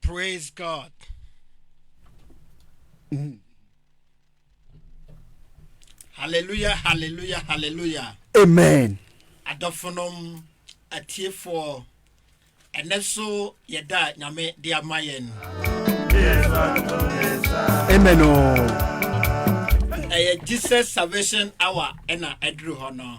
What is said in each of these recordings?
Praise God. Mm. Hallelujah, hallelujah, hallelujah. Amen. Adɔfonom atiefoɔ ɛnɛ so yɛda nyame de ama yɛn. Amen o. Oh. Ɛyɛ Jesus Salvation Hour ɛna ɛduru hɔ no.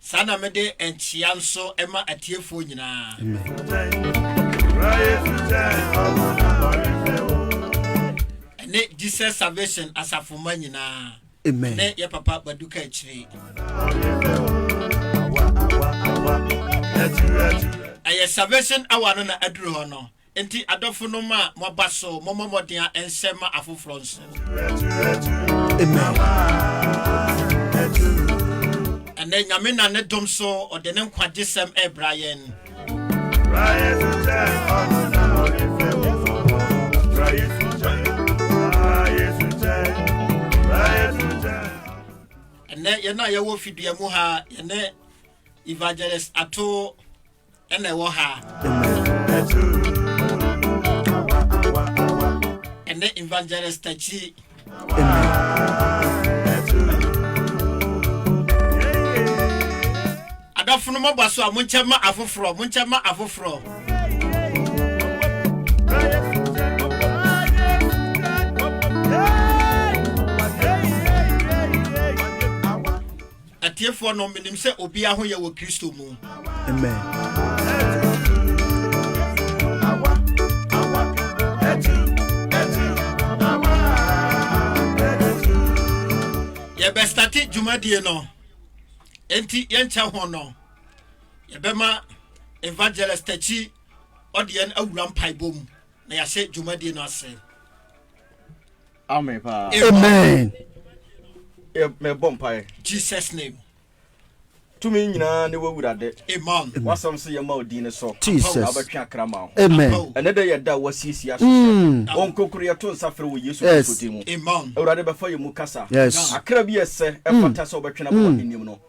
Saa na mede nkyea nso ma atiefoɔ nyinaa. Ɛne Jesus Salvation asafomma nyinaa. Amen. Ne yɛ papa Baduka akyire. Ɛyɛ Salvation Hour no na aduru hɔ no. Enti adɔfonom a moaba so, mommɔ mmɔden a ɛnsɛ mma afoforɔ nso. Ɛnnɛ Nyame nam ne dom so ɔde ne nkwagyesɛm ɛrebra yɛn. Ɛnnɛ yɛn a yɛwɔ fidua mu ha, yɛne Evangelist Ato ɛna ɛwɔ ha ɛnɛ evangelist akyi adɔfo no mɔbɔ so a monkyɛ ma afoforɔ monkyɛ ma afoforɔ Atiefoɔ no, menim sɛ obiara ho yɛ wɔ Kristo mu. Amen. yɛbɛstate dwumadie no enti yɛnkyɛ ho no yɛbɛma evangelist takyi ɔde yɛn awura mpaebɔ mu na yɛahyɛ dwumadie no ase Amen paa. Amen. Mɛbɔ mpaeɛ. Jesus name. Tumi nyinaa ne w'awurade. Amen. W'asɛm sɛ yɛma wo din no so. Jesus. Na wobɛtwe akra ma ho. Amen. Ɛnɛ dɛ yɛ da a wasiesie aso sɛ mm. ɔnkonkoro yɛto nsa frɛ wɔ Yesu Kristo din mu. Amen. Awurade bɛfa yɛ mu kasa. Yes. Akra bi ɛsɛ ɛfata mm. sɛ wobɛtwe no bɔ mm. w'ahenniam no.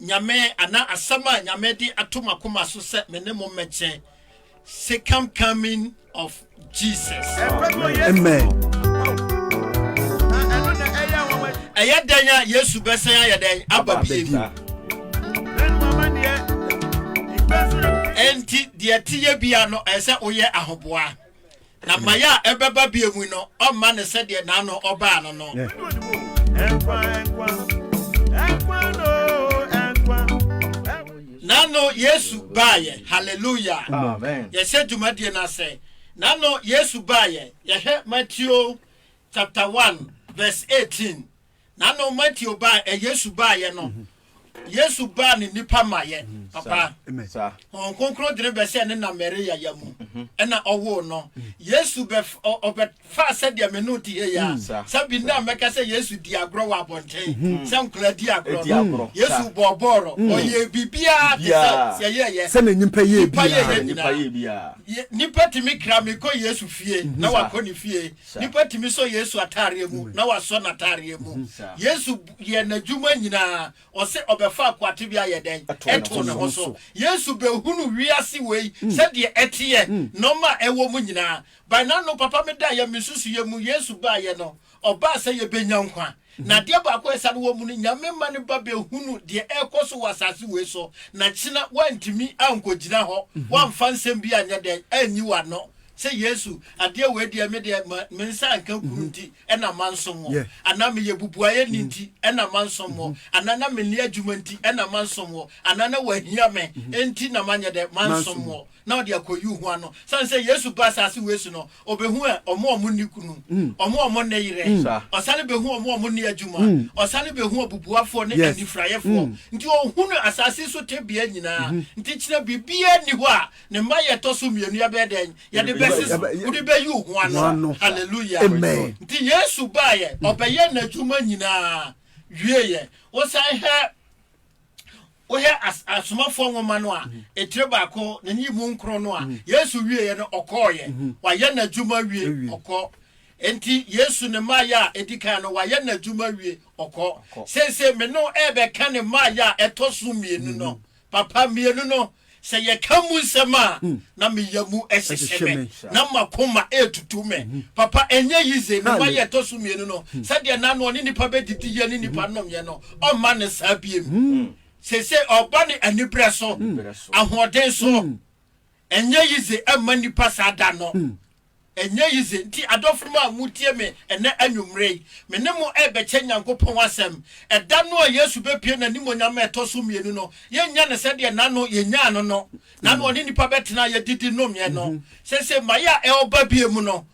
Nyame, anaa asɛm a Nyame de ato m'akoma so sɛ me ne mo mmɛkyɛ, Second Coming of Jesus. Amen. Ɛyɛ dɛn a Yesu bɛsɛn ayɛ dɛn aba bio? Enti deɛ ɛteyɛ bia no ɛsɛ woyɛ ahoboa. Na mmaeɛ a ɛbɛba bio mu no, ɔremma no sɛdeɛ na ano ɔbaa no no. N'ano Yesu baeɛ. Hallelujah. Amen. Yɛhyɛ dwumadie no ase. N'ano Yesu baeɛ. Yɛhwɛ Matthew chapter 1 verse 18. N'ano Mateo baa Yesu baayɛ no, Yesu baa ne nnipa mayɛ papa. Honhom Kronkron dene bɛhyɛɛ ne na Maria ya mu, ɛna ɔwoo no. Yesu ɔbɛfaa sɛdeɛ me ne wo te ha yi a, sɛ bi nnɛ a mɛka sɛ Yesu di agorɔ wɔ abɔnten, sɛ nkwadaa di agorɔ no, Yesu bɔɔ bɔɔlɔ, ɔyɛɛ biribiara te sɛ sɛ yɛyɛ. Sɛdeɛ nnipa yɛ biara. Nnipa yɛyɛ nyinaa. Nnipa tumi kra mekɔ Yesu fie na wakɔ ne fie. Nnipa tumi sɔ Yesu ataareɛ mu na wasɔ n'ataareɛ mu. Yesu yɛɛ n'adwuma nyinaa, ɔse ɔbɛfaa kwate bi ayɛ dɛn? Ɛtoo ne ho so. Yesu bɛhunu wiase wei sɛdeɛ ɛteɛ, nɔɔma a ɛwɔ mu nyinaa. By n'ano papa me daeɛ me nsusuiɛ mu Yesu baeɛ no, ɔbaa sɛ yɛbɛnya nkwa. Na adeɛ baako a ɛsane wɔ mu ne, Nyame mma ne ba bɛhunu deɛ ɛrekɔ so wɔ asase wei so, na kyena woantumi ankɔgyina hɔ, woamfa nsɛm bi anyɛ dɛn, anyi w'ano, sɛ, Yesu, adeɛ wei deɛ, me deɛ, ma, me nsa anka kunu nti na mansom wo, anaa meyɛ bubuayɛni nti na mansom wo, anaa na menni adwuma nti na mansom wo, anaa na woahia me, enti na manyɛ dɛn, mansom wo. na ɔde akoyi wo ho ano. Sane sɛ Yesu ba asase wei so no, ɔbɛhu ɛ, ɔmo ɔmo nni kunu, ɔmo ɔmo nne yerɛ, ɔsane bɛhu ɔmo ɔmo nne adwuma, ɔsane bɛhu abubuafoɔ ne anifuraeɛfoɔ. Nti ɔhunu asase so tebea nyinaa. Nti kyena biribiara nni hɔ a ne mma yɛ ɛtɔ so mmienu yɛbɛyɛ dɛn? Yɛde bɛse so. Wode bɛyi wo ho ano. Hallelujah. Nti Yesu baeɛ, ɔbɛyɛɛ n'adwuma nyinaa wieeɛ. Wosane hɛ. Wohwɛ as Asomafoɔ nwoma no a, etire baako, n'ani mu nkron no a, Yesu wieeɛ no, ɔkɔeɛ. Wayɛ n'adwuma awie, ɔkɔ. Enti, Yesu ne mmaeɛ a ɛdi kan no, wayɛ n'adwuma awie, ɔkɔ. Seesei, me ne wo rebɛka ne mmaeɛ a ɛtɔ so mmienu no. Papa, mmienu no. Sɛ yɛka mu nsɛm a, na me yamu hyehye me, na m'akoma retutu me. Papa, ɛnyɛ yize. Ne mma yɛ ɛtɔ so mmienu no, sɛdeɛ na noɔ ne nnipa bɛdidiiɛ ne nnipa nnomeɛ no, ɔmma no saa biem. Seesei ɔreba no aniberɛ so, ahoɔden so. Ɛnyɛ yize mma nnipa saa da no. Ɛnyɛ yi dze ntsi, adɔfonom a mutsie me nnɛ anwummere yi, me ne mo rebɛkyɛ Nyankopɔn asɛm. Ɛda no a Yesu bɛpue n'animuonyam a ɛtɔ so mmienu no, yɛnnya no sɛdeɛ nna no yɛnyaa no no, nna no ɔne nnipa bɛtena a yɛdidi nomeɛ no. Sese mmaeɛ a ɛreba bio mu no,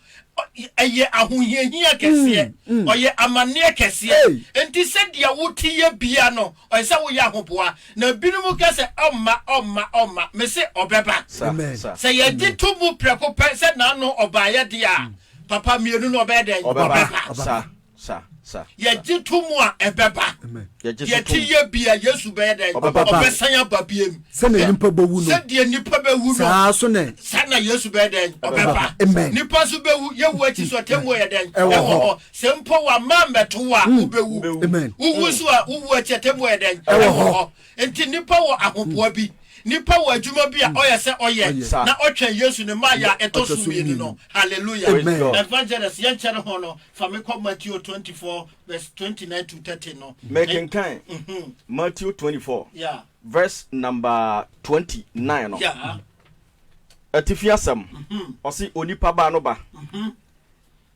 ɛyɛ ahohiahia kɛseɛ, ɔyɛ amanneɛ kɛseɛ. Enti sɛdeɛ wote yɛ bia no, Ɔsɛ sɛ woyɛ ahoboa. Na binom ka sɛ, Ɔmma, ɔmma, ɔmma. Mese, Ɔbɛba. Sɛ yɛgye to mu prɛko pɛ sɛ N'ano ɔbaeɛ deɛ a, papa, mmienu no ɔbɛyɛ dɛn? Ɔbɛba. Yɛgye to mu a, ɛbɛba. Deɛ ɛte yie biara, Yesu bɛyɛ dɛn? Ɔbɛsan aba bio. Sɛdeɛ nnipa bɛwu no, saa na Yesu bɛyɛ dɛn? Ɔbɛba. Nnipa nso bɛwu. Yɛwuo akyi nso, atemmuo yɛ dɛn? Ɛwɔ hɔ. Sɛ mpo wɔamma ammɛto wo a, hmm. wubewu. Wuwu nso a, wuwu akyi atemmu a ɛyɛ dɛn? Ɛwɔ hɔ. Nti nnipa wɔ ahoboa bi. Nnipa wɔ adwuma bi a hmm. ɔyɛ sɛ ɔyɛ na ɔtwɛn Yesu ne mmaayɛ a ɛtɔ so mmienu no. Hallelujah. Evangelist, yɛnkyɛre ho no, fa me kɔ Matthew 24 verse 29 to 30 no. Mekenkan mhm. Matthew 24 verse number 29 no. Atifi asɛm, mhm. ɔse onipa baa no ba. Mhm.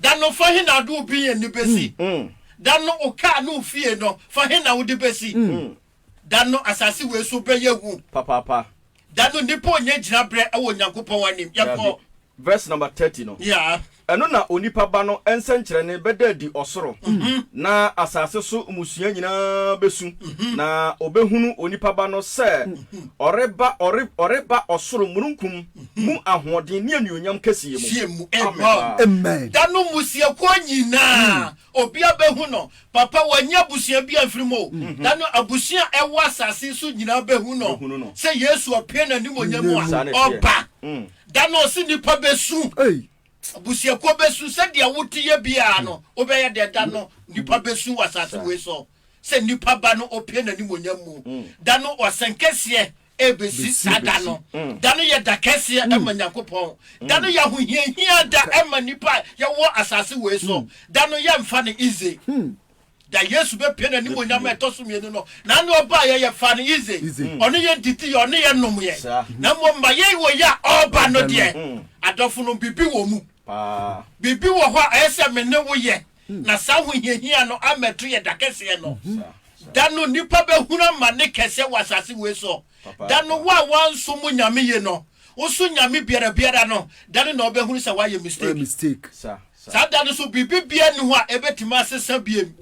Da no fa he na wode wo bean no besi? Da no wo kaa ne wo fie no fa he na wode besi? Da no asase wei so bɛyɛ hu. Papaapa. Da no nnipa ɔnyɛ gyinabrɛ wɔ Onyankopɔn anim. Yɛnkɔ. Daabi. Verse number thirty no. Yeah. Ɛno na Onipa Ba no nsɛnkyerɛnne bɛda adi ɔsoro, na asase so mmusua nyinaa besu, na wɔbehunu Onipa Ba no sɛ ɔreba, ɔre, ɔreba ɔsoro mununkum Mu ahoɔden ne anuonyam kɛseyɛ mu. Amen. Da no mmusuakuo nyinaa obia bɛhu no papa wanyɛ abusua bia mfiri mu o da no abusua a ɛwɔ asase yi so nyinaa bɛhu no sɛ Yesu apue n'animuonyam mu a ɔba da no ɔse nnipa bɛsu abusuakuo bɛsu sɛdeɛ woteyɛ biaa no wobɛyɛ deɛ da no nnipa bɛsu wɔ asase wei so sɛ nnipa ba no ɔpue n'animuonyam mu da no ɔsɛnkɛseɛ ɛrebɛsi saa da no. Da no yɛ da kɛseɛ ma Nyankopɔn. Da no yɛ ahohiahia da ma nnipa a yɛwɔ asase wei so. Da no yɛmfa no easy. Da Yesu bɛpue n'animuonyam a ɛtɔ so mmienu no, na ne ɔbaeɛ yɛfaa no easy. Ɔne yɛn didiiɛ, ɔne yɛn nomeɛ. Na mmom ma yɛn wei a ɔreba no deɛ, adɔfonom, biribi wɔ mu. Biribi wɔ hɔ a ɛyɛ sɛ me ne wo yɛ. na saa ahohiahia no ammɛto yɛ da kɛseɛ no. Da no nnipa bɛhunu amane kɛseɛ wɔ asase wei so. Da no wo a woansom wo Nyame yie no, woso Nyame biara biara no, da no na wobɛhunu sɛ woayɛ mistake. Saa da no so biribi biara nni hɔ a ɛbɛtumi asesa biam.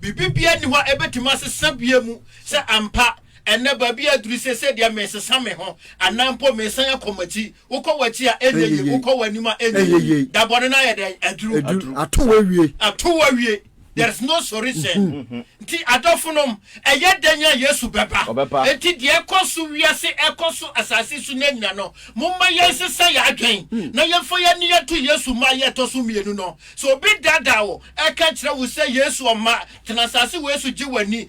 Biribi biara nni hɔ a ɛbɛtumi asesa biam sɛ ampa Ɛnnɛ, baabi a aduru seesei deɛ, meresesa me ho, anaa mpo meresan akɔ m'akyi. Wokɔ w'akyi a, ɛnyɛ yie. Wokɔ w'anim a, ɛnyɛ yie. Da bɔne no ayɛ dɛn? Aduru. Ato wo awie. Ato wo awie. There is no solution. Nti adɔfonom, ɛyɛ dɛn a Yesu bɛba? Ɔbɛba. Enti deɛ ɛrekɔ so wiase, ɛrekɔ so asase so nnɛ nyina no, momma yɛnsesa yɛn adwene, na yɛmfa yɛn ani nto Yesu mmaeɛ a ɛtɔ so mmienu no. Sɛ obi daadaa wo, ɛreka kyerɛ wo sɛ Yesu, Ɔma, tena asase wei so, gye w'ani,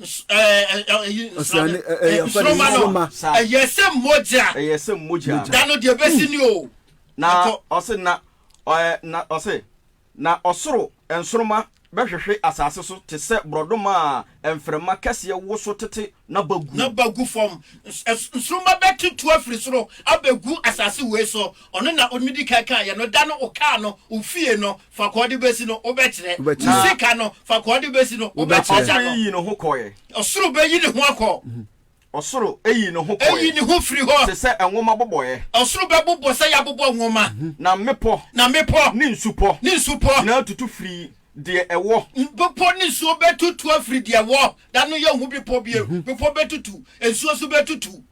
na ɔsoro nsoroma bɛhwehwe asase so te sɛ borɔdɔma a mframa kɛseɛ wo so tete na ba gu. Na ba gu fam. Nsoroma bɛtutu afiri soro abɛgu asase wei so. Ɔno na ɔmedi kan kaeɛ no. Da no ɔkaa no, ɔfie no, Faako a ɔde besi no, wobɛkyerɛ. Wobɛkyerɛ. Ne sika no, faako a ɔde besi no, Wobɛkyerɛ. wobɛkyerɛ. Ɔsoro yii ne ho kɔe. Ɔsoro bɛyi ne ho akɔ. Ɔsoro yii ne ho kɔe. Eyi ne ho firi hɔ. Te sɛ nwoma bobɔeɛ. Ɔsoro bɛbobɔ sɛ yɛabobɔ nwoma. Na mmepɔ. Na mmepɔ. Ne nsupɔ. Ne nsupɔ. Nyinaa tutu firi deɛ ɛwɔ. Mmepɔ ne nsuo bɛtutu afiri deɛ ɛwɔ. Da no yɛnhu bepɔ bio. Mmepɔ bɛtutu. Nsuo nso bɛtutu.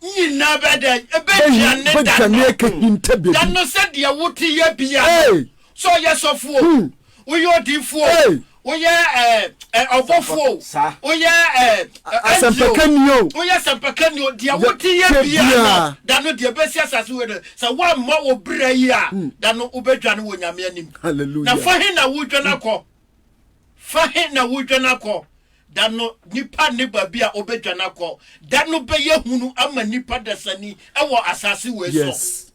Nyina bɛdɛ bɛdua ne da no da no sɛ deɛ wote yɛ bia no sɛ ɔyɛ sɔfo o woyɛ odiifo o woyɛ ɔbɔfo o woyɛ asɛmpakani o woyɛ asɛmpakani o deɛ wote yɛ bia no da no deɛ bɛsi asase wei no sɛ woammɔ wo berɛ yi a da no wobɛdwane wɔ nyame anim na fa he na wodwane akɔ fa he na wodwane akɔ Da no, nipa nne baabi a obedwane akɔ. Da no bɛyɛ hunu ama nipa dasani wɔ asase wei so. Yes.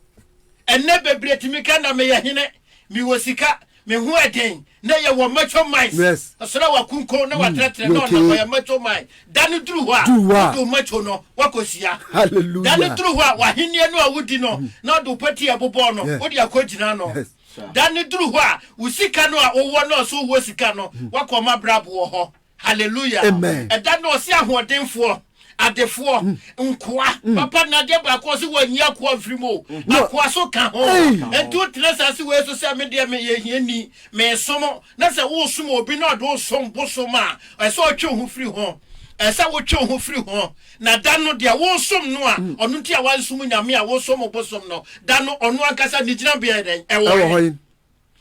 Ɛnnɛ bebree tumi ka na meyɛ hene, mewɔ sika, me ho ɛden, na yɛwɔ macho minds. Yes. Ɔsra wakunko na watrɛtrɛ na ɔnam ɔyɛ macho mind. Da no duru hɔ a, Duru hɔ a. wode wo macho no wakɔ sua. Hallelujah. Da no duru hɔ a, w'ahenniɛ no a wodi no na ɔde wo pati a ɛbobɔɔ no Yes. wode akɔ gyina ano. Yes. Da no duru hɔ a, wo sika no a wowɔ no a ɔse wowɔ sika no, woakɔ ɔma brabo wɔ hɔ. Hallelujah! Amen. Ɛda no ɔse ahoɔdenfoɔ, adefoɔ, nkoa, papa no adeɛ baako ɔse wɔnyi akoa mfiri mu o, No. akoa so ka ho. Ei! Enti wotena asaase wei so sɛ me deɛ meyɛ hiani, meesom, na sɛ woresom obi na ɔde wo som bosom a, ɛsɛ ɔtwe wo ho firi ho. Ɛsɛ wotwe wo ho firi ho. Na da no, deɛ woresom no a, ɔno nti a woansom Nyame a wosom obosom no, da no ɔno ankasa ne gyinabea yɛ dɛn? Ɛwɔ he?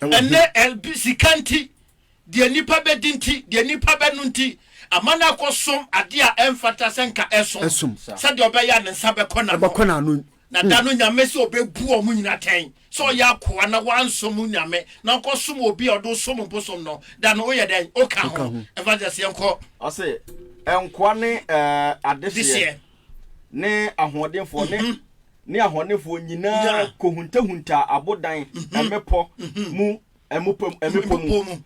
Ɛnnɛ, ebi, sika nti, deɛ nnipa bɛdi nti, deɛ nnipa bɛno nti, ama no akɔsom adeɛ a ɛmfata sɛ nka ɛsom, sɛdeɛ ɔbɛyɛ a ne nsa bɛkɔ n'ano. Na da no Nyame sɛ ɔbɛbu wɔn nyina atɛn, sɛ ɔyɛ akoa na wansom wo Nyame, na ɔkɔsom obi a ɔde wo som bosom no, da no woyɛ dɛn? Woka ho? Evangelist yɛnkɔ. Ɔse nkoa ne adehyeɛ ne ahoɔdenfoɔ ne ne ahɔnefoɔ nyinaa kɔhuntahuntaa abodan mmepɔ mu mmepɔ mu.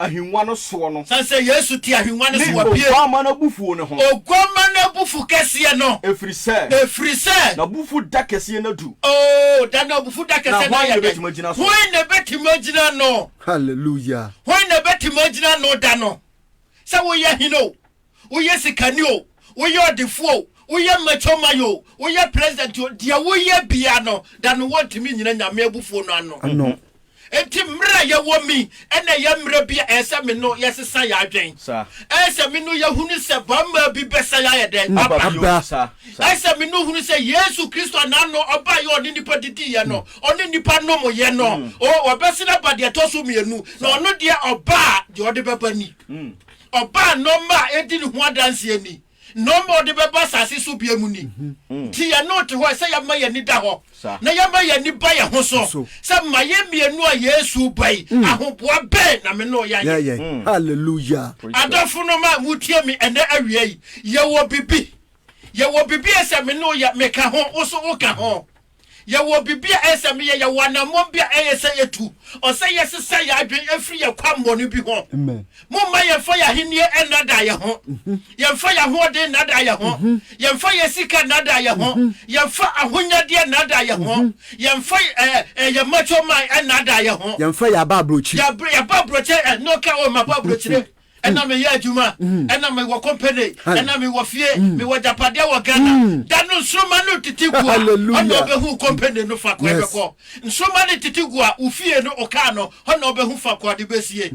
ahengua no soɔ no. Sane sɛ Yesu te ahengua no so wɔ pie. Ne Oguamma no abufuo no ho. Oguamma no abufuo kɛseɛ no. Ɛfiri sɛ. Ɛfiri sɛ. N'abufuo da kɛseɛ no adu. Oo, da n'abufuo da kɛseɛ no ayɛ dɛn? Na hwan na ɛbɛtumi agyina no? Hallelujah! Hwan na ɛbɛtumi agyina no da no? Sɛ woyɛ hene o, woyɛ sikani o, woyɛ ɔdefo o, woyɛ macho man o, woyɛ president o, deɛ woyɛ biara no, da no wɔntumi nnyina Nyame abufuo no ano. Ano. Enti mmerɛ a yɛwɔ mu yi na ɛyɛ mmerɛ bi a ɛyɛ sɛ me no yɛsesa yɛn adwen. Saa. Ɛyɛ sɛ me no yɛhunu sɛ bammaa bi bɛsan ayɛ dɛn? Aba bio. Aba. Saa. Saa. Ɛyɛ sɛ me no hunu sɛ Yesu Kristo a n'ano ɔbaeɛ a ɔne nnipa didiiɛ no, ɔne nnipa nomoeɛ no, o, ɔbɛsan aba deɛ ɛtɔ so mmienu, na ɔno deɛ ɔba a, deɛ ɔde bɛba ni. Ɔbaa nɔɔma a edi ne ho adanseɛ ni. Nɔɔma a ɔde bɛba asase so biom ni. Nti yɛne wo te hɔ ɛsɛ yɛ ma yɛn ani da hɔ na yɛ ma yɛn ani ba yɛn ho so sɛ ma yɛ mmienu a Yesu reba yi ahoboa bɛn na me ne wo yɛ ayɛ. Hallelujah. Adɔfo nom a mo tie me ɛnɛ awia yi, yɛ wɔ bibi. Yɛ wɔ bibi a ɛsɛ me ne wo yɛ, me ka ho, wo so wo ka ho. Yɛwɔ biribi a ɛyɛ sɛ meyɛ, yɛwɔ anammɔn bi a ɛyɛ sɛ yetu, ɔsɛ yɛsesa yɛn adwene firi yɛn kwammɔne bi ho. Momma yɛmfa yɛn ahenni nnaadaa yɛn ho, yɛmfa yɛn ahoɔden nnaadaa yɛn ho, yɛmfa yɛn sika nnaadaa yɛn ho, yɛmfa ahonyadeɛ nnaadaa yɛn ho, yɛmfa yɛn mmatwoman nnaadaa yɛn ho. Yɛmfa yɛn abɔ aburokyire. Yɛabɔ aburokyire, ɛno ka o, mabɔ aburokyire. ɛna mm. meyɛ adwuma mm. ɛna mewɔ company ɛna mewɔ fie mm. mewɔ agyapadeɛ wɔ ghana da no nsoroma no tete gu a ɔna ɔbɛhu company no fa koa bɛkɔ nsoroma no tete gu a wo fie no ɔkaa no ɔna ɔbɛhu fa koa de bɛsie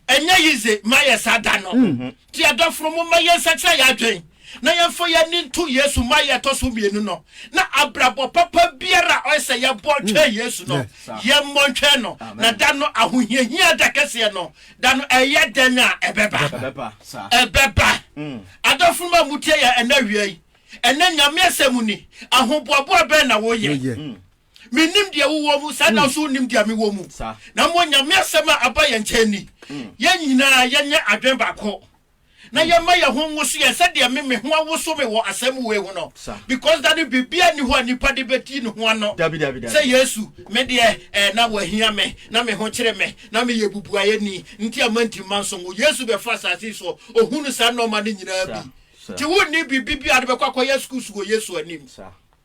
ɛnyɛ yize mayɛ saa da no mm-hmm. nti adɔforo mo ma yɛnsakyerɛ yɛ adwen na yɛmfa yɛni nto yesu ma yɛ ɛtɔ so mmienu no na abrabɔ papa biara ɔyɛ sɛ yɛbɔ mm. twɛn yesu no yɛmmɔ ntwɛn no na da no ahohiahia da kɛseɛ no Da no ɛyɛ dɛn a ɛbɛba? Ɛbɛba, sa. Ɛbɛba. Adɔfonom a motie yɛn ɛnnɛ awia yi, ɛnnɛ Nyame asɛm ni, ahoboaboa bɛn na woyɛ? Mennim deɛ wowɔ mu, saa da nso wonnim deɛ mewɔ mu. Na mmom Nyame asɛm a aba yɛn nkyɛn ni, yɛn nyinaa yɛnyɛ adwene baako. na yɛma yɛn ho nwoso yɛn sɛdeɛ me me ho awoso me wɔ asɛm wei ho no, because Dade biribiara nni hɔ a nipa de bɛdi ne ho ano sɛ Yesu me deɛ eh, na wɔahia me, na me ho kyere me, na me yɛ bubuayɛni nti a mantim mansom wo. Yesu bɛfa asase yi soɔ, ɔhunu saa nnoɔma no nyinaa bi, nti wonni biribi bi a wode bɛkɔ akɔyɛ excuse wɔ Yesu anim.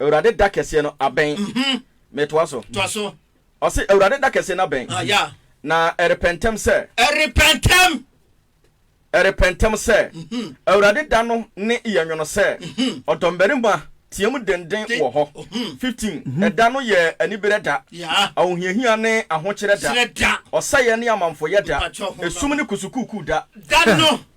Awurade da kɛseɛ no abɛn. Metoa so. Toa so. Ɔse, Awurade da kɛseɛ no abɛn. Ah, yeah. Na ɛrepɛ ntɛm sɛ. Ɛrepɛ ntɛm. Ɛrepɛ ntɛm sɛ. Awurade da no ne yɛ nwono sɛ. Ɔdɔmmarima team denden wɔ hɔ. Fifteen, Ɛda no yɛ aniberɛ da. Yeah. Ahohiahia ne ahokyerɛ da. Kyerɛ da. Ɔsɛeɛ ne amamfoyɛ da. Mpakyɛ ho ba no. Esum ne kusukuukuu da. Da no.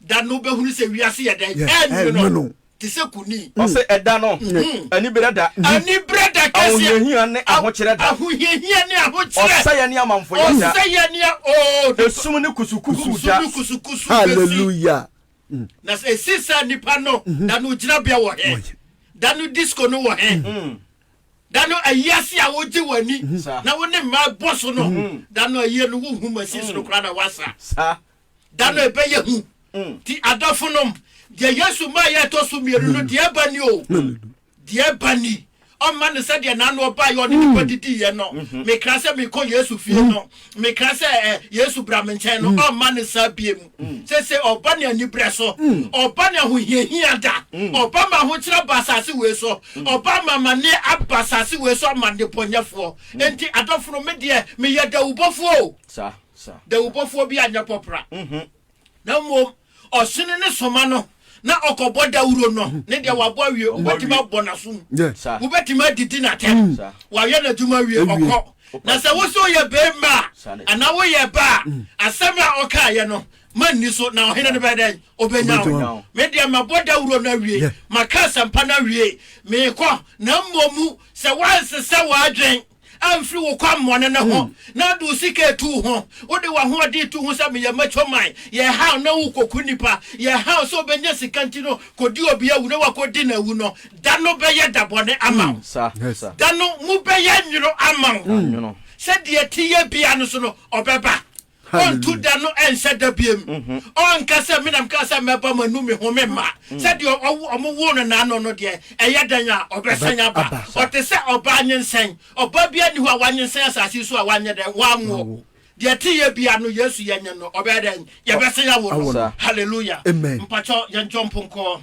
Da no wobɛhunu sɛ wiase yɛ dɛn? Ɛrenwono te sɛ kunini. Ɔse ɛda no, aniberɛ da. Aniberɛ da kɛseɛ. Ahohiahia ne ahokyerɛ da. Ahohiahia ne ahokyerɛ. Ɔsɛeɛ ne amamfoyɛ da. Ɔsɛeɛ ne oh. Esum ne kusukusu da. Esum ne kusukusu bɛsi. Hallelujah. Na sɛ esi saa nipa no, da no gyinabea wɔ he? Da no disco no wɔ he? Da no ayiase a wogye w'ani na wo ne mmaa bɔ so no, da no ayie no wohu machines no koraa na wasa. da no ɛbɛyɛ hu. Nti adɔfo nom, deɛ Yesu maa yɛ ɛtɔ so mmienu no, deɛ ɛba ni o, deɛ ɛba ni. ɔmma no sɛ deɛ n'ano ɔbaa yɛ ɔne nipa didi yɛ no mekra sɛ mekɔ Yesu fie no mekra sɛ ɛ Yesu bra me nkyɛn no ɔmma no saa bie mu sese ɔba ne anibrɛ so ɔba ne ahohiahia da ɔba ma ahokyerɛ ba asase wei so ɔba ma amane aba asase wei so ama nnebɔnyɛfoɔ enti adɔfo no me deɛ meyɛ dawubɔfoɔ o dawubɔfoɔ bi anyɛ pɔpra, na mmom ɔhyene ne soma no na ɔkɔbɔ dawuro no ne deɛ wabɔ awie wobɛtumi abɔ n'asom wobɛtumi adidi n'atɛm wayɛ n'adwuma awie ɔkɔ na sɛ wo so yɛ bɛrima a anaa woyɛ ba a mm. asɛm a ɔkaeɛ no ma nni so na ɔhene no bɛyɛ dɛn ɔbɛnya wo me deɛ mabɔ dawuro no awie maka asɛmpa no awie meekɔ na mmomu sɛ woansesɛ w'adwen amfiri wo kwammɔne no ho, na wode wo sika retu ho, wode w'ahoɔden retu ho sɛ meyɛ mature mind, yɛ haw na wokɔku nnipa, yɛ haw sɛ wobɛnya sika nti no kɔdi obi awu na woakɔdi no awu no, da no bɛyɛ da bɔne ama wo. Da no mu bɛyɛ nwono ama wo. Sɛdeɛ ɛteɛ biara no so no, ɔbɛba. Ɔnto da no ɛnhyɛ da biam. Ɔnka sɛ, Me na mekaa sɛ mɛba mo anum me ho me mma. Sɛ deɛ wɔwoo no naano no deɛ, ɛyɛ dɛn a ɔbɛsan aba? Ɔte sɛ ɔbaa nyinsɛn. Ɔbaa biara nni hɔ a wanyinsɛn asase yi so a wanyɛ dɛn? Wanwo. Deɛ teyɛ biara no, Yesu yɛnye no, ɔbɛyɛ dɛn? Yɛbɛsan awo no. Hallelujah. Mpakyɛw yɛnjɔmpo nkɔ.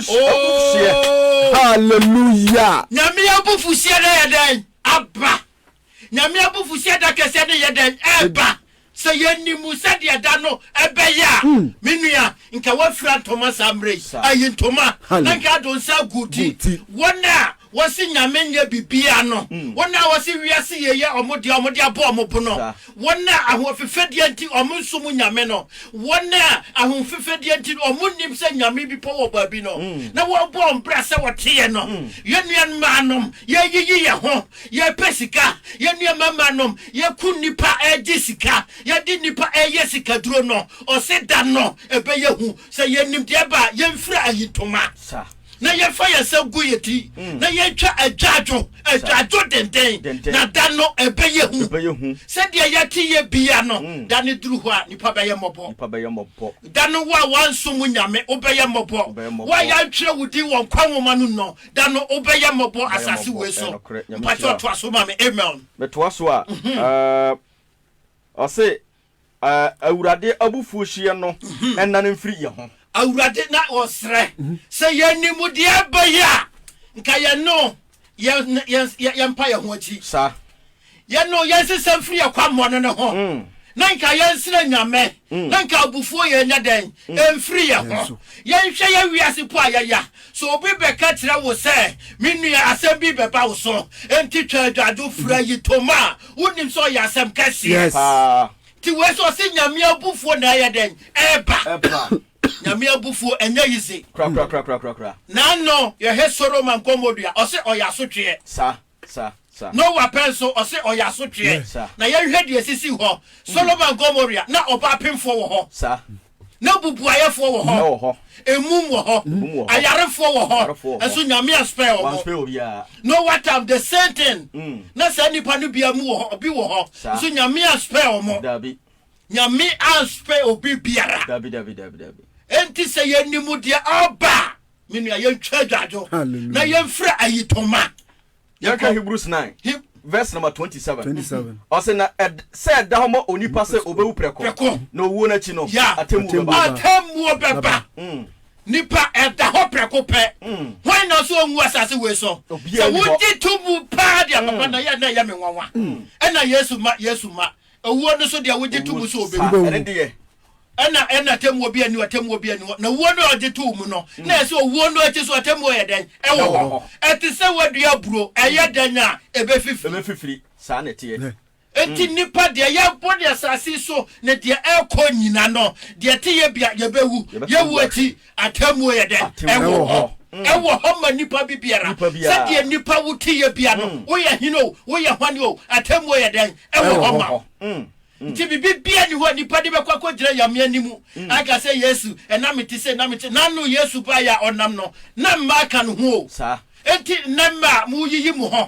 Abufuhyeɛ. Oh! Hallelujah! Nyame abufuhyeɛ no ayɛ dɛn? Aba. Nyame abufuhyeɛ da kɛseɛ no yɛ dɛn? Ɛba. Sɛ yɛnim sɛdeɛ da no ɛbɛyɛ a, hmm. me nua, nka woafira ntoma saa mmerɛ yi. Ayi ntoma, na nka ado nsa agu ti. Wɔn a Wɔse Nyame nyɛ bibia no, wɔn a wɔse wiase yei yɛ wɔn dea, wɔn de abɔ wɔn bo no, wɔn a ahoɔfefɛdeɛ nti wɔn nsom Nyame no, wɔn a ahoɔfefɛdeɛ nti wɔn nnim sɛ Nyame bi pɔ wɔ baabi no, na wɔbɔ wɔn bra sɛ wɔteɛ no. Yɛn nuammaanom, yɛreyiyi yɛn ho, yɛrepɛ sika, yɛn nuammaanom, yɛku nnipa regye sika, yɛde nnipa reyɛ sikaduro no, ɔse da no ɛbɛyɛ hu, sɛ yɛnnim deɛ ɛba a, yɛnfira ayitoma. na yɛfa yɛn nsa gu yɛn ti mm. na yɛtwa adwadwo adwadwo denden na da no ɛbɛyɛ hu ɛbɛyɛ hu sɛdeɛ yɛte yɛ bia no mm. da no duru hɔ a nipa bɛyɛ mmɔbɔ nipa bɛyɛ mmɔbɔ da no wo a wanso mu nyame wobɛyɛ mmɔbɔ wo a yɛantwerɛ wo din wɔ nkwa nwoma no nnɔ da no wobɛyɛ mmɔbɔ asase wei so mpakyɛ ɔtoa so ma me amen metoa so a mhm. ɔse Awurade abufuohyeɛ no nnane mfiri yɛn ho. Awurade, na wɔsrɛ sɛ yɛn animdeɛ bɛyɛ a, nka yɛne wo yɛmpa yɛn ho akyi. Saa. Yɛne wo yɛnsesa mfiri yɛn kwammɔne no ho, na nka yɛnsrɛ Nyame, na nka abufuo yɛ nyɛ dɛn? Ɛmfiri yɛn ho. Yɛnhwɛ yɛn wiase po a yɛya. Sɛ obi bɛka kyerɛ wo sɛ, Me nua, asɛm bi bɛba wo so, enti twa adwadwo, fira ayitoma. Wonim sɛ ɔyɛ asɛm kɛseɛ paa. Nti wei sɛ ɔse Nyame abufuo na ɛyɛ dɛn? Ɛba. Nyame abufuo ɛnyɛ yize. Korakorakorakorakora. Naano yɛhwɛ Soroman kɔmɔdua ɔse ɔyɛ asotweɛ. Sa, sa, sa. Noah pɛ nso ɔse ɔyɛ asotweɛ. Sa. Na yɛnhwɛ deɛ esisi hɔ. Soloman kɔmɔdua na ɔbaa pemfoɔ wɔ hɔ. Sa. Na bubuayɛfoɔ wɔ hɔ, Nnɛ wɔ hɔ. emum wɔ hɔ, Emum wɔ hɔ. ayarefoɔ wɔ hɔ, Ayarefoɔ wɔ hɔ. nso Nyame aspare wɔn. Wanspare obiara. No what time the same thing Mm. na saa nipa no bia mu wɔ hɔ obi wɔ hɔ Saa. nso Nyame aspare wɔn. Dabi. Nyame anspare obi biara. Dabi dabi dabi dabi. Enti sɛ yɛnim deɛ ɔreba a, me nua yɛntwa adwadwo na Hallelujah. yɛmfira ayitoma. Yɛnhwɛ Hebrews nine, Heb. verse number twenty seven. Twenty seven. Ɔsɛ na ɛd sɛ ɛda hɔ ma onipa sɛ obewu prɛko, Prɛko. na owuo no akyi no, Ya. atemmuo Atemmuo bɛba. bɛba. Atemmuo bɛba. Mm. Nipa, ɛda hɔ prɛko pɛ. Mm. Hwan na ɔsɛ onwu asase wei so? Obiara Sɛ nni hɔ. wogye to mu paa deɛ, papa, na ɛyɛ a na ɛyɛ me nwanwa. Ɛna Yesu ma, Yesu ma, Owuo no so deɛ wogye to mu sɛ ɔbɛwu. Owuo sa ɛne deɛ. Ɛna ɛna atemmuo bi ani hɔ, atemmuo bi ani hɔ. Na owuo no a ɔgye too mu no, na ɛsɛ owuo no akyi so atemmuo yɛ dɛn? Ɛwɔ hɔ. Ɛte sɛ woadua aburo, ɛyɛ dɛn a, ɛbɛfifiri. Ɛbɛfifiri, saa na ɛteɛ. Enti nnipa, deɛ yɛrebɔ ne asase yi so ne deɛ ɛrekɔ nyina no, deɛ ɛte yɛ bia, yɛbɛwu. Yɛwu akyi, Atemmuo yɛ dɛn? Atemmuo Ɛwɔ wɔ hɔ. hɔ. Mm. Ɛwɔ hɔ ma nipa bi biara. Nipa biara. Sɛdeɛ nipa wo teyɛ bia no, Mm. woyɛ hene o, woyɛ hwane o, atemmuo yɛ dɛn? Ɛwɔ Ɛwɔ hɔ hɔ. ma wo. Mm. Mm. Nti biribi biara ni hɔ a nipa de bɛkɔ akɔgyina Nyame anim Mm. aka sɛ Yesu, ɛna mete sei, na mete. N'ano Yesu baeɛ a ɔnam no, na mmaa ka ne ho o. Saa. Enti nnɛ mmaa, moyiyi mo ho.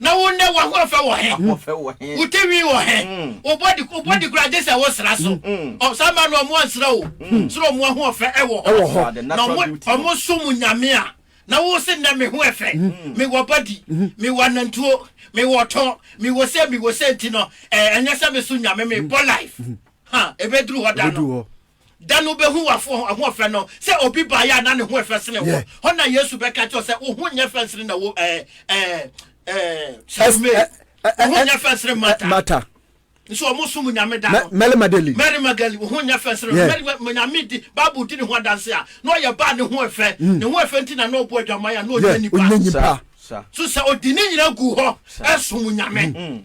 Na wo nnɛ w'ahoɔfɛ wɔ he? W'ahoɔfɛ wɔ he? Wo tinwi wɔ he? Wo body wo body koraa gye sɛ wo sra so. Ɔ saa mmaa no ɔmo ansra o. Srɛ ɔmo ahoɔfɛ ɛwɔ hɔ. Ɛwɔ hɔ. Na ɔmo ɔmo som Nyame a. Na wo se nnɛ me ho ɛfɛ. Me wɔ body. Me wɔ anantuo. Me wɔ ɔtɔ. Me wɔ se me wɔ se nti no ɛɛ ɛnyɛ sɛ me som Nyame me bɔ life. Ha ebeduru hɔ da no. Da no wobɛhu w'afoɔ ho ɔfɛ no, sɛ obi baeɛ a na ne ho yɛ fɛ sene wo. Yeah. Hɔ na Yesu bɛka kyerɛ wo sɛ, wo ho nyɛ fɛ nsene na wo ɛɛ ɛɛ ɛɛ Salome. Ɛ- ɛ- ɛ- Wo ho nyɛ fɛ nsene Marta. Marta. Nso wɔn som nyame da no. Mary Magdalene. Mary Magdalene, wo ho nyɛ fɛ nsene no. Yeah. Mary ma- nyame di Bible di ne ho adanse a, na ɔyɛ baa ne ho ɛfɛ. Ne ho ɛfɛ nti na na ɔbɔ adwaman a na ɔnyɛ Yeah, nipa. ɔnyɛ nipa. Saa, saa. So sɛ ɔde ne nyina gu hɔ ɛsom nyame.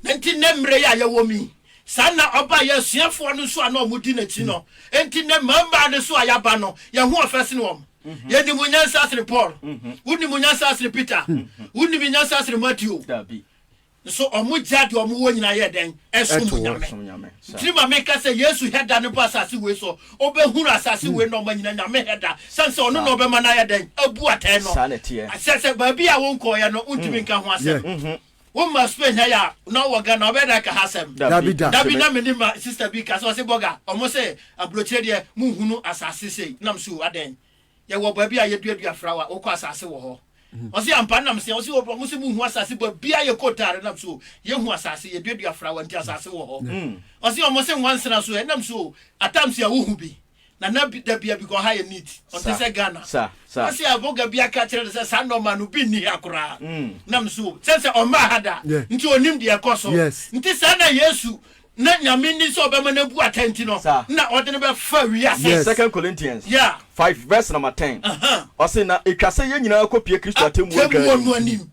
Na nti nnɛ mmerɛ yi a yɛwɔ mu yi, Saa ara na ɔbae yɛn asuafoɔ no nso a na wɔdi n'akyi no. Enti nnɛ mmarimaa no nso a yɛaba no, yɛn ho ɔfɛ sene wɔn. Yɛnim wo nyansa sene Paul. Wonim wo nyansa sene Peter. Wonim me nyansa sene Mateo. Nso wɔgyaa deɛ wɔwɔ nyinaa yɛɛ dɛn? Ɛsom Nyame. Ntini ma meka sɛ Yesu hɛ da no ba asase wei so, ɔbɛhunu asase wei nɔɔma nyinaa Nyame hɛ da. Sane sɛ ɔno na ɔbɛma no ayɛ dɛn? Abu atɛn no. Sɛ baabi a wonkɔɔeɛ no, wontumi nka ho asɛm. Wo ma sukuu ehia yi a na ɔwɔ Ghana ɔbɛyɛ dɛn aka ha asɛm? Dabi da. Dabi na me nim ma sister bi ka sɛ ɔse bɔga ɔmo se abrokyire deɛ mo hunu asase sei nam se o adɛn yɛ wɔ baabi a yɛ dua dua frawa wokɔ asase wɔ hɔ ɔse ampa nam se ɔse o ɔmo se mo hu asase bɔ bia yɛ kɔ taare nam se o yɛ hu asase yɛ dua dua frawa nti asase wɔ hɔ ɔse ɔmo se nwansena so ɛ nam se o atam se a wo hu bi na na bi da bia because ha yɛ neat ɔnte Sa, sɛ Ghana sa, sa. na sɛ aboga bi aka kyerɛ no sɛ saa nɔɔma no bi nni ha koraa Mm. nam nso o sɛ sɛ ɔmmaa ha da Yeah. nti ɔnim deɛ ɛkɔ so Yes. nti saa na Yesu na Nyame nni sɛ ɔbɛma no abu atɛn nti no Sa. na ɔde no bɛfa wiase Yes. Second Corinthians Yeah. 5 verse number 10 Aha. ɔse na ɛtwa sɛ yɛn nyinaa kɔpie Kristo atemmuo adwa Atemmuo no anim anim.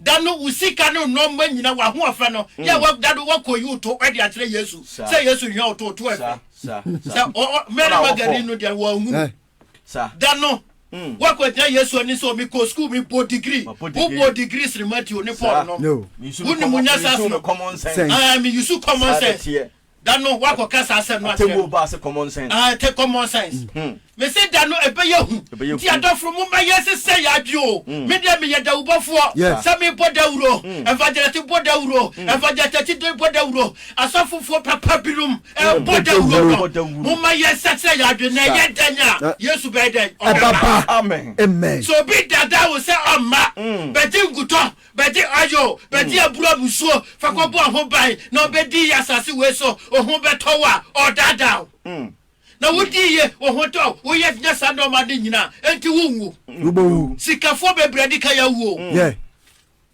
Da no wo sika no nɔma nyina wahoɔfɛ no yɛ mm. da no wakɔyi wo to ɛde akyerɛ Yesu sɛ Yesu hia wo to to ɛfɛ sɛ Mary Magdalene no deɛ wɔahunu eh. da no mm. wakɔgyina Yesu ani sɛ ɔmi kɔ sukuu mi bɔ digiri wobɔ digiri sere Matthew ne Paul nom wonim nya saa so no meyusu common sense Da no woakɔ ka saa asɛm no akyerɛ no. Atemmuo baa sɛ common sense. Aah ɛte common sense. Me se da no ɛbɛyɛ hu. Nti adɔfro momma yɛn sesɛ yɛn adwe o. Me deɛ meyɛ dawubɔfoɔ. Sɛ me bɔ dawuro, evangelist bɔ dawuro, evangelist akyide bɔ dawuro, asɔfofoɔ papa binom bɔ dawuro no. Momma yɛn sesɛ yɛn adwe na ɛyɛ dɛn a Yesu bɛyɛ dɛn? Ɔbɛba. Amen. Sɛ obi daadaa wo sɛ ɔmma, bɛgye nkutɔ Bɛde oil bɛde aburo abusuo fa kɔbɔ wo ho ban na wobɛdi yie asase wei so, wo ho bɛtɔ wo a, ɔredaadaa wo. Na wodi yie, wo ho tɔ wo, woyɛ nya saa nnoɔma no nyina a, enti wonwu. Wobɛwu. Sikafoɔ bebree adi kan awu o. Yeah.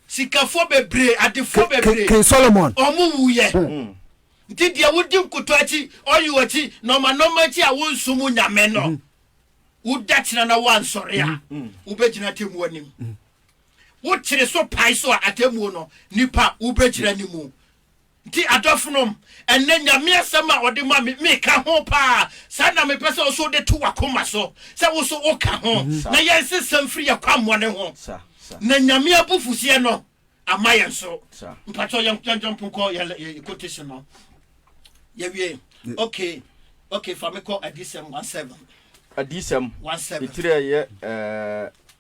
Sikafoɔ bebree, adefoɔ bebree. King Solomon. Wɔn wuiɛ. Nti deɛ wodi nkotɔ akyi, oil akyi, nnoɔma nnoɔma akyi a wonsom Nyame no, woda kyena na woansɔre a, wobɛgyina atemmuo anim. Wo tiri so pae so a atemmuo no nipa wobɛgyina ne mu. Nti adɔfonom, ɛnnɛ Nyame asɛm a ɔde ma me, meka ho paa. Saa na mepɛ sɛ wo so wode to w'akoma so, sɛ wo so woka ho, na yɛnsesa mfiri yɛn kwammɔne ho, na Nyame abufuhyeɛ no amma yɛn so. Mpakyɛw yɛn yɛn jump nkɔ yɛn yɛ quotation no. Yɛwie. Okay. Okay, fa me kɔ Adiyisɛm one seven. Adiyisɛm, One seven. etiri a ɛyɛ ɛɛ.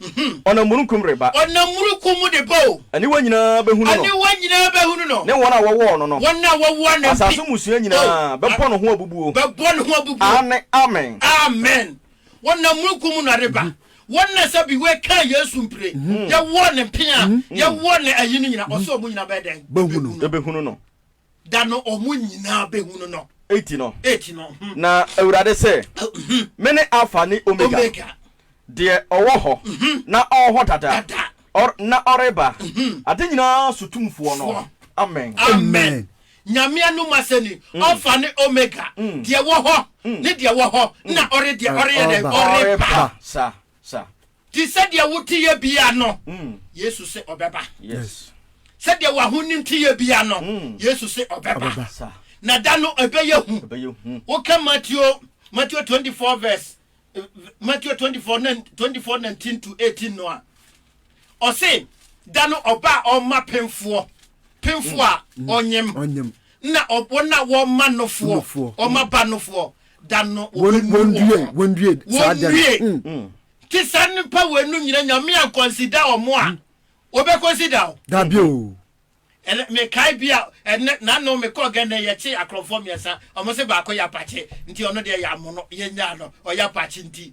Ɔnam mununkum reba. Ɔnam mununkum mu de ba o. Aniwa nyinaa bɛhunu no. Aniwa nyinaa bɛhunu no. Ne wɔn a wɔwɔ ɔno no. Wɔn a wɔwɔ ne mpe. Asase mmusua nyinaa. O. Bɛbɔ ne ho abubuo. Bɛbɔ ne ho abubuo. Aane, amen. Amen. Ɔnam mununkum mu na reba. Wɔn a sɛ bi wɔkaa Yesu mpire, yɛwɔ ne mpe a, yɛwɔ ne ayi no nyinaa, ɔsɛ wɔn nyinaa bɛyɛ dɛn? Bɛhunu no. Bɛhunu no. Da no wɔn nyinaa bɛhunu no. Eti no, Eti no, mhm, na Awurade se, mhm, Mene Alfa ne Omega, Omega, deɛ ɔwɔ hɔ, mhm, na ɔwɔ hɔ dada, dada, ɔr, na ɔreba, mhm, ade nyinaa so Tumfoɔ no. foɔ. Amen. Amen. Amen. Nyame anom asɛm ni, Alfa ne Omega, deɛ wɔ hɔ, ne deɛ wɔ hɔ, na ɔre deɛ, ɔreyɛ dɛn? Ɔreba. Ɔreba. Sa, sa. Te sɛ deɛ wo teyɛ bia no, Yesu se ɔbɛba. Sɛ deɛ w'ahonim teyɛ bia no, Yesu se ɔbɛba. Na da no ɛbɛyɛ hu. Woka Mateo, Mateo 24 verse, Mateo 24, 24 19 to 18 no a, ɔse da no ɔba a ɔma pemfoɔ, pemfoɔ a ɔnyem, na wɔn a wɔma nofoɔ, ɔma ba nofoɔ, da no wɔbɛnu wɔndue saa da no mm. te saa nnipa wɔanu nyina nyame a kɔnsida ɔmo a mm. wɔbɛkɔnsida o dabi o ɛnɛ mekae bi a ɛnɛ nano mekɔɔ gɛ nɛ yɛkye akorɔmfoɔ mmiɛnsa ɔmo se baako yɛ apakye nti ɔno deɛ yɛ amono yɛnyaa no ɔyɛ apakye nti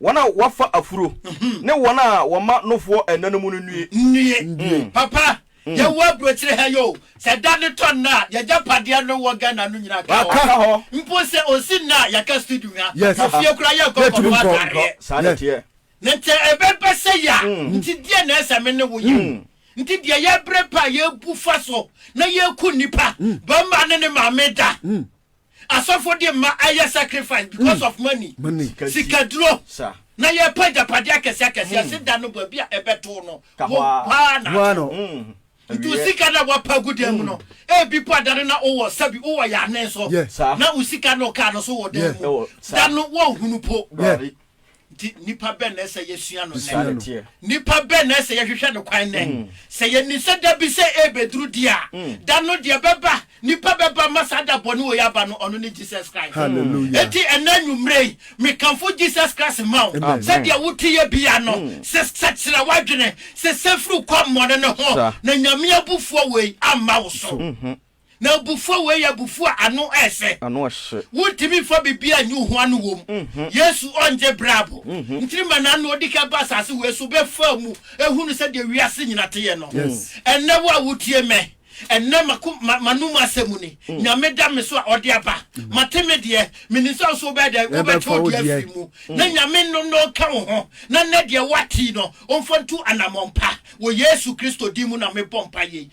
Wɔn a wɔafa afuro ne wɔn a wɔma nofoɔ ɛna no mu no nnue. Nnue. Papa, yɛwɔ aburokyire ha yi o, sɛ da no tɔ nnɛ a, y'agyapadeɛ no wɔ Ghana no nyinaa ka hɔ. Aka hɔ. Mpo sɛ ɔsi nnɛ a, yɛaka studio ha. Yes. Wɔ fie koraa yɛnkɔ Yɛntumi nkɔtɔ nkɔ. atadeɛ. Saa na ɛteɛ. Na nti ɛbɛba sɛ yɛ a, nti deɛ na ɛsɛ me ne wo yɛ? Nti deɛ yɛbrɛ pɛ a yɛbu fa so na yɛku nnipa, barima ne ne maame da. Asɔfo de mma ayɛ sacrifice because of money, sika duro, na yɛpɛ agyapadeɛ akɛse akɛse ase da no bɔ bi a ɛbɛto no wo hwaa na ato. Nti wo sika na wapa agu dan mu no, ebi po adane na wowɔ sɛbi wowɔ yɛ anen so na wo sika na ɔkaa no so wɔ dan mu da no wɔnhunu po. Nti nnipa bɛn na ɛsɛ yɛsua no nnɛ? Nnipa bɛn na ɛsɛ yɛhwehwɛ no kwan nnɛ? Mm. Sɛ yɛnim sɛ da bi sɛ ɛrebɛduru di a, mm. da no deɛ bɛba, nnipa bɛba ma saa da bɔne wɔ yɛ aba no, ɔno ne Jesus Christ. Enti ɛnna anwummerɛ yi, mekamfo Jesus Christ ma wo. Sɛdeɛ wote yɛ bia no, mm. sɛ sɛkyerɛ w'adwene, sɛ sɛ firi kɔ mmɔne no ho, na Nyame abufuo wei amma wo so. Mm-hmm. Na abufuo wei yɛ abufuo a ano ɛsɛ. Ano ɛhye. Wontumi nfa biribi a nyi hua no wom. Yesu ɔngye brabo. Ntiri ma na na ɔdikan ba asase wei so bɛfaa mu ɛhunu sɛdeɛ wiase nyina teyɛ no. Ɛnnɛ wo a wotie mɛ ɛnnɛ mako manom asɛm ni. Nyame da me so a ɔde aba. Mate me deɛ. Menim sɛ nso wobɛyɛ dɛn? Wobɛte wo deɛ afiri mu. Na Nyame no na ɔka wo ho. Na nɛ deɛ woate yi no ɔmfa ntu anamɔn pa. Wɔ Yesu Kristo din mu na mebɔ mpaeɛ yi.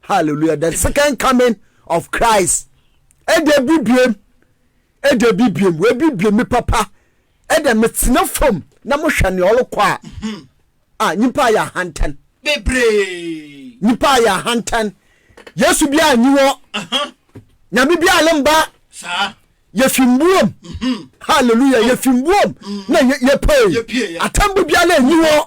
hallelujah the second coming of christ ɛde abibiem ɛde abibiem wɔabibiem me papa ɛde metena fam na mohwɛ nea ɔrekɔ a mhm. a nyimpa ayɛ ahantan bebree nyimpa ayɛ ahantan yesu bi a nyi wɔ nyame bi a ne mba yɛfi mbuom mhm. hallelujah yɛfi mbuom mhm. na yɛpɛe atambo biara anyi wɔ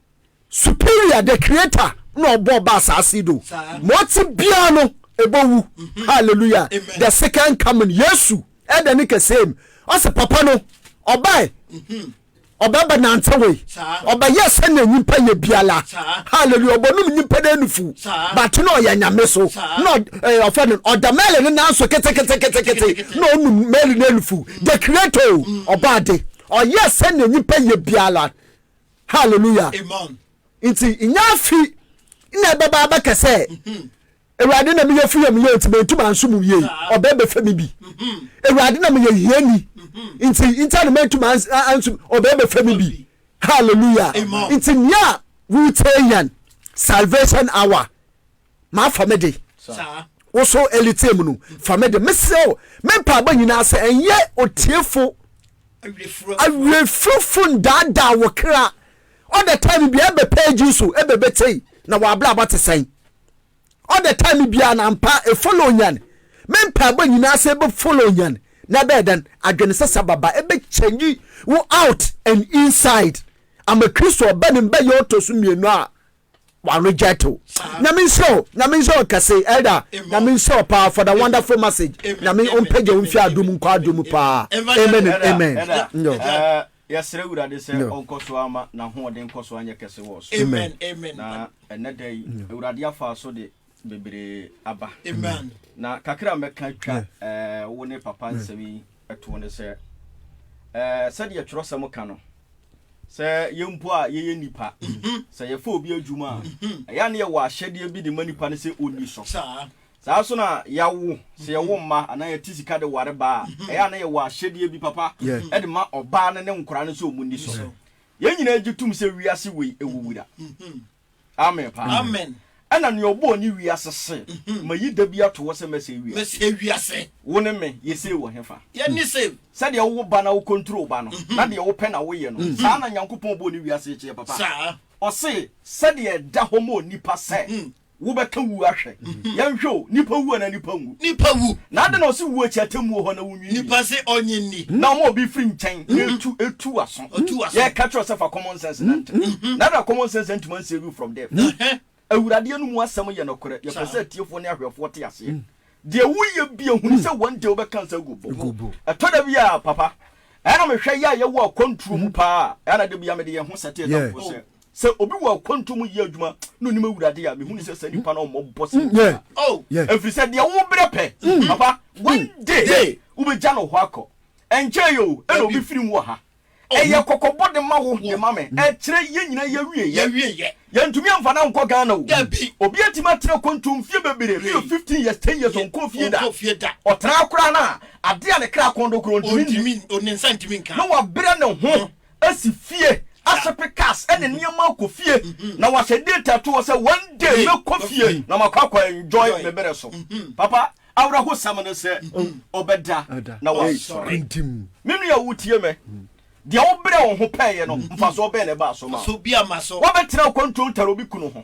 superior the creator na ɔbɔ ɔba asaase do ma ɔte biara no ɛbɔ wu mhm. hallelujah the second coming yesu ɛdɛ ne kɛsɛm ɔsɛ papa no ɔbae mhm. ɔbɛba nante wei ɔbɛyɛ sɛnea nyimpa yɛ biala hallelujah ɔbɔnum nyimpa dɛ nufu bate na ɔyɛ nyame so na ɔfɛ no ɔda mɛli ne nan so keteketekete na ɔnum mɛli ne nufu the creator ɔba ade ɔyɛ sɛnea nyimpa yɛ biala Hallelujah. Amen. Nti nya afi na ɛbɛba abɛka sɛ awurade na meyɛ firi yam yɛ nti mɛntu manso mu yie ɔbɛ bɛfɛ me bi awurade na meyɛ hiani nti nta na mɛntu manso ɔbɛ bɛfɛ me bi hallelujah nti nea wotee yɛn salvation hour maa fa me de woso ɛliteɛ mu no fa me de mesrɛ o me mpaabɔ nyinaa sɛ ɛnyɛ otiefo awerɛfirofo ndaadaa wo kra all the time bia ɛbɛ page so ɛbɛ bɛtei na wɔabrabɔ te sɛn all the time bia na mpa ɛfollow nyan me mpaabɔ nyinaa sɛ ɛbɛ follow nyan na ɛbɛyɛ dɛn adwene sɛ sɛ baba ɛbɛ change wo out and inside ama kristo ɔbɛ ne mbɛyɛ ɔtɔ so mmienu a wa reject o nyame nhyira o nyame nhyira o kɛse elder nyame nhyira o paa for the wonderful message nyame ɔmpagya wo mfi adom nkɔ adom paa amen and amen yɛsrɛ awurade sɛ ɔnkɔ so ama n'ahoɔden nkɔ so anyɛ kɛse wɔ so amen na ɛnɛ da yi awurade afa so de bebree aba amen na kakra a mɛka twa ɛɛ wo ne papa hmm. nsɛm yi ɛto ne sɛ ɛɛ sɛdeɛ twerɛsɛm ka no sɛ yɛn mpo a yɛyɛ nipa mhm. sɛ yɛfa obi adwuma a mhm. ɛyɛ ne yɛwɔ ahyɛdeɛ bi de ma nipa no sɛ ɔni so saa so na yɛawo sɛ yɛwo mhm. mma anaa yɛte sika de ware baa a ɛyɛ ne yɛwɔ ahyɛdeɛ bi papa ɛde ma ɔbaa no ne nkora no sɛ ɔmu ni so yɛn nyinaa gye tom sɛ wiase wei ɛwuwura amen paa amen ɛna nea ɔbɔɔ ne wiase se mhm. ma yi da bi ato hɔ sɛ mɛsɛ wiase mɛsɛ wiase wo ne me yɛsɛ wɔ he fa yɛne sɛ sɛdeɛ wowo ba na wo control ba no mhm. na deɛ wopɛ na woyɛ no mhm. saa na nyankopɔn bɔɔ ne wiase kyeɛ papa saa ɔse sɛdeɛ ɛda hɔ ma onipa sɛ wobɛka wu ahwɛ yɛnhwɛ o nipa wu ana nipa nwu nipa wu na ade na ɔse wu akyi atemmuo hɔ na wo Nipa se ɔnye nni. Nna ɔma obi firi nkyɛn na etu etu w'aso. Ɔtu w'aso. Yɛreka kyerɛ wo sɛ fa common sense nantew. Na na common sense antumi ansave you from death. Ɛhɛ. Awurade anum asɛm yɛ nokorɛ. Yɛpɛ sɛ atiefoɔ ne ahwɛfoɔ te aseɛ. Deɛ woyɛ bia hunu sɛ one day wobɛka nsa agu bo. Bo. Ɛtɔ da bi a, papa, ɛyɛ a mehwɛ yɛ a yɛwɔ akwantuo mu paa a, ɛyɛ a na da bi ara mede yɛn ho sɛte adamfo sɛ, Sɛ obi wɔ akwantuo mu yɛ adwuma na ɔnim Awurade a, mehu ne sɛ saa nipa no ɔmmɔ bɔ sɛ obiara. Oh, ɛfiri sɛ deɛ wobrɛ pɛ, papa, one day wobɛgya no hɔ akɔ. Ɛnkyɛe yi o, ɛna obi firi mu wɔ ha. Ɛyɛ kɔkɔbɔ de ma wo, de ma me. Ɛkyerɛ yɛn nyinaa yɛawieɛ. Yɛntumi amfa no ankɔ Ghana o. Obi atumi atena akwantuo mfeɛ bebree, bɛyɛ fifteen years, ten years, ɔnkɔɔ fie da. Ɔtena koraa no a, adeɛ a ne kra kɔn do koraa ɔntumi nni, na wabrɛ ne ho. asi fie, asepe cars ne nneɛma akɔ fie na wahyɛ date ato hɔ sɛ one day mɛkɔ fie na makɔ akɔ enjoy me bere so. Papa, awerɛhosɛm ne sɛ ɔbɛda na wasɔre. Me nua a wotie me, deɛ wobrɛ wo ho pɛeɛ no, mfasoɔ bɛn na ɛbaa so maa wo? Woabɛtena akwantuo ntare obi kunu ho.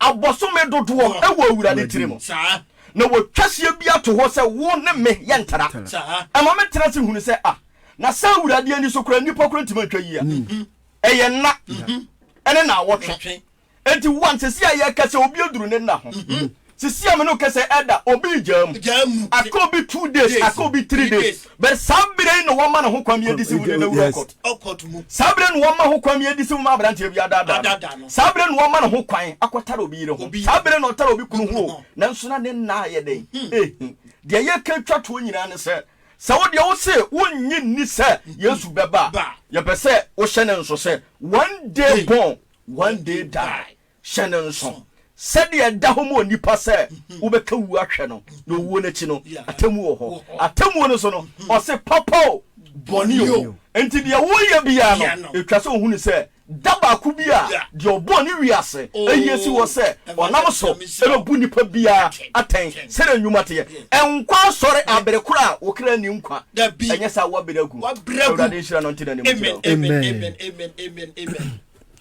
abosome dodoɔ wɔ Awurade tiri mu, na wɔtwa hyeɛ bi ato hɔ sɛ wo ne me yɛntena. Ɛma me tena ase hunu sɛ, ah, na sɛ Awurade ani so koraa nnipa koraa ntumi antwa yi a, ɛyɛ nna ne naawɔtwe. Enti one, sisi a yɛka sɛ obi aduru ne nna ho, sisi a me ne wo kasa ɛda, obi regyaa mu, aka obi two days, aka obi three days, But saa bere yi na wɔma no hokwan yɛ disiw de no awura ɔkɔt mu. Saa bere no na wɔma hokwan yɛ disiw ma aberanteɛ bi adaadaa no. Saa bere no na wɔma no hokwan akɔtare obi yere ho. Saa bere no na ɔtare obi kunu ho o, nanso na ne nna ayɛ dɛn? Ehi. Deɛ yɛka twa toɔ nyinaa ne sɛ, sɛ wo deɛ wose wonnye nni sɛ Yesu bɛba a, yɛpɛ sɛ wohyɛ no nso sɛ, One day born, one day die. Hyɛ no nsow sɛnea ɛda hɔ ma onipa sɛ wobɛka wu ahwɛ no, na owuo no akyi no, atemmuo wɔ hɔ. Atemmuo no so no, ɔse papa o, bɔne o. Enti deɛ woyɛ biara no, ɛtwa sɛ ɔhunu sɛ da baako bi a deɛ ɔbɔɔ ne wiase yi asi hɔ sɛ ɔnam so bɛbu nipa biara atɛn sɛdeɛ nnwuma teɛ. Nkwa asɔre abere koro a wo kra nni nkwa, ɛnyɛ saa a woabere agu. Awurade nhyira no ntene ne mu nhyira wo. Amen.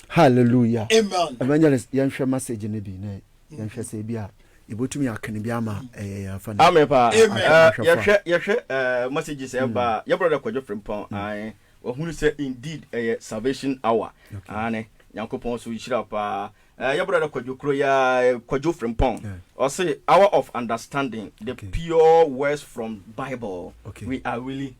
Hallelujah. Amen. Evangelist, yɛnhwɛ message no bi na yɛnhwɛ sɛ ebi a yɛbɛtumi aka no bi ama ɛyɛ yɛn afa no. Amen paa. Amen. Eh, Ahwɛfo a. Yɛhwɛ yɛhwɛ eh, messages a ɛba a, yɛ brother Kwadwo Frimpong, ae, wahunu sɛ indeed ɛyɛ salvation hour. Okay. Aane, Nyankopɔn so nhyira paa. Eh, yɛ brother Kwadwo kuro yi ara, eh, Kwadwo Frimpong, Yeah. ɔse hour of understanding the Okay. pure words from Bible. Okay. We are really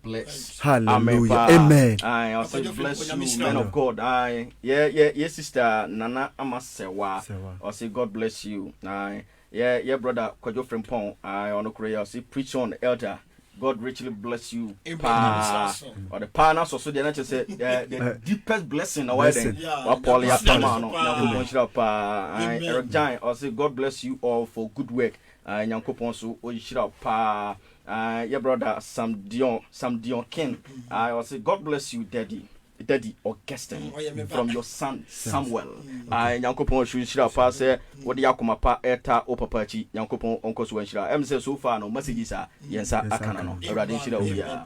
bless. Hallelujah. Amen. Amen. I'll say bless you, man of God. Aye. Yeah, yeah, yeah, sister Nana Amasewa. I'll say God bless you. Aye. Yeah, yeah, brother Kwajo Frimpong. Aye, on the I'll say preach on, elder. God richly bless you. Pa, or the pa na so so the nature say the deepest blessing away then. Wa Paul ya tama no. Nyankopon shira pa. Eric Giant, I'll say God bless you all for good work. Nyankopon so o shira pa. Ah yɛ brɔda Sam Dion Sam Dion King ah ɔsi God bless you daddy daddy Augustine mm, from your son Samuel mm, ah nyankopɔn nsu nhyira paa sɛ wɔde yɛ akoma pa ɛta o papa akyi nyankopɔn ɔnkɔ so nhyira ɛm sɛ so far no messages a mm, yɛn nsa aka no no awurade nhyira obiara.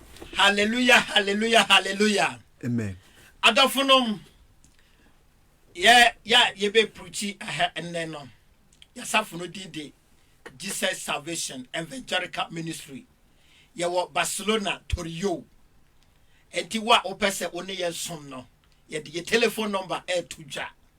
Hallelujah hallelujah hallelujah Amen. Adɔfo nom yɛ yɛ yɛbɛ prukyi ɛhɛ nnɛ no yasafo no din de Jesus Salvation Evangelical Ministry yɛwɔ Barcelona Torrio ɛnti wo a wopɛ sɛ wo ne yɛn som no yɛde yɛ telephone number ɛɛto dwa.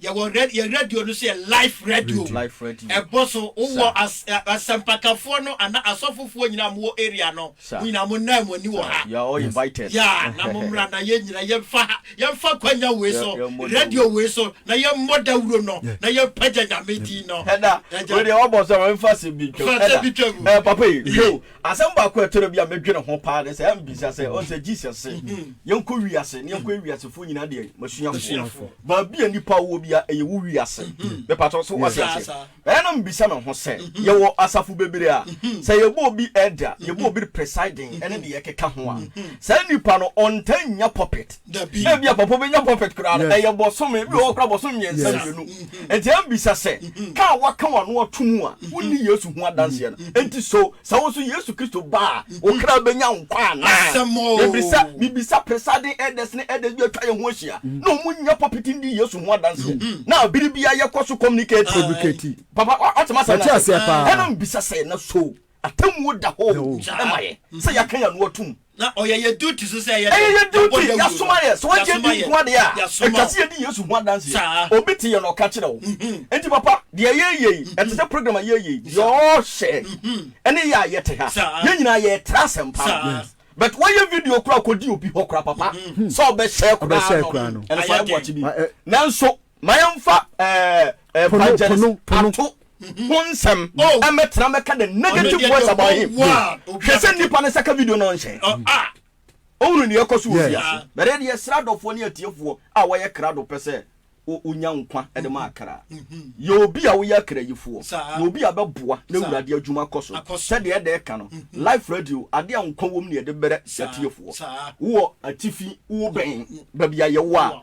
Yɛwɔ rɛd yɛn radio no so yɛ life radio. Life radio. Ɛbɔ so. Wowɔ Sa. as ɛ asɛmpakafoɔ no anaa asɔfofoɔ nyinaa a mowɔ area no, Sa. mo nyinaa monnaa mo ani wɔ Sa. ha. You are all invited. Ya, na mommra na yɛn nyinaa yɛmfa ha, yɛmfa kwanya wei Yɛ so, yɛmmɔ dawuro. radio wei so, na yɛmmɔ dawuro no, Yeah. na yɛmpagya Nyame din no. Ɛda, Agya. wei deɛ wabɔ so a, ma memfa asɛm bi ntwam. Fa asɛm Ɛda. bi twam. Eh, papa yi, yo, Asɛm baako a ɛtɔda bi a medwene ho paa ne sɛ, ɛyɛ a mebisa sɛ, ɔn sɛ Jesus se, yɛnkɔ wiase na yɛnkɔyɛ wiasefoɔ nyinaa deɛ m'asuafoɔ. Baabi a nnipa wɔ biara, ɛyɛ wo wiase. Mepatɔ, so wate aseɛ? Ɛyɛ a na mebisa me ho sɛ, yɛwɔ asafo bebree a, sɛ yɛbɔ obi elder, yɛbɔ obi presiding ne deɛ ɛkeka ho a, saa nnipa no, ɔntaa nnya pulpit. Dabi. Ebia papa obenya pulpit koraa no, ɛyɛ bɔsome, ebi wɔ hɔ koraa bɔsome mmiɛnsa mmienu. Mm-hmm. Enti ɛmbisa sɛ, mm-hmm. ka a waka w'ano ato mu a, mm-hmm. wonni Yesu ho adanseɛ no. Enti so, sɛ wo nso Yesu Kristo ba a, wo kra benya nkwa anaa? Ebisa, bibisa presiding elders ne elders bi atwa yɛn ho ahyia, na wɔn nyɛ pulpit ndi Yesu ho adanseɛ. Na bere biara yɛkɔ so communicate. Papa, ɔtema sɛ na ɛna mbisa sɛ, na so, Atemmuo da hɔ o, ɛma yɛ sɛ yɛaka yɛn ano atom. Na ɔyɛ yɛn duty so sɛ yɛyɛ dɛn? Ɛyɛ yɛn duty, yɛasoma yɛn. Sɛ wagye adi nko ara deɛ a, ɛtwa sɛ yɛdi Yesu ho adanseɛ. Obi te yɛn na ɔka kyerɛ wo. Enti papa, deɛ yɛreyɛ yi, ɛte sɛ program a yɛreyɛ yi, deɛ ɔrehyɛ ne yɛ a yɛte ha, yɛn nyinaa yɛretra asɛmpa no. But woayɛ video koraa kɔdi obi hɔ koraa papa, sɛ ɔbɛhyɛ koraa no, ɛno so ayɛ boakye bi. Nanso Ma yɛmfa evangelist ato ho nsɛm ɛmɛtena oh. mɛka the negative words about him hwɛ sɛ nnipa no sɛka video no nhyɛ oh, ah. ɔhunu neɛ ɛkɔ so wɔ fiase bɛrɛ deɛ sra adɔfoɔ ne atiefoɔ a wɔyɛ krado pɛ sɛ wonya nkwa de ma akra mm-hmm. yɛ obi a woyɛ akra yifoɔ na obi a bɛboa na awurade adwuma kɔ so sɛdeɛ ɛdɛ ɛka no mm-hmm. life radio adeɛ a nkwa wɔ mu ne ɛde bɛrɛ atiefoɔ wowɔ atifi wowɔ bɛn baabi a yɛwɔ a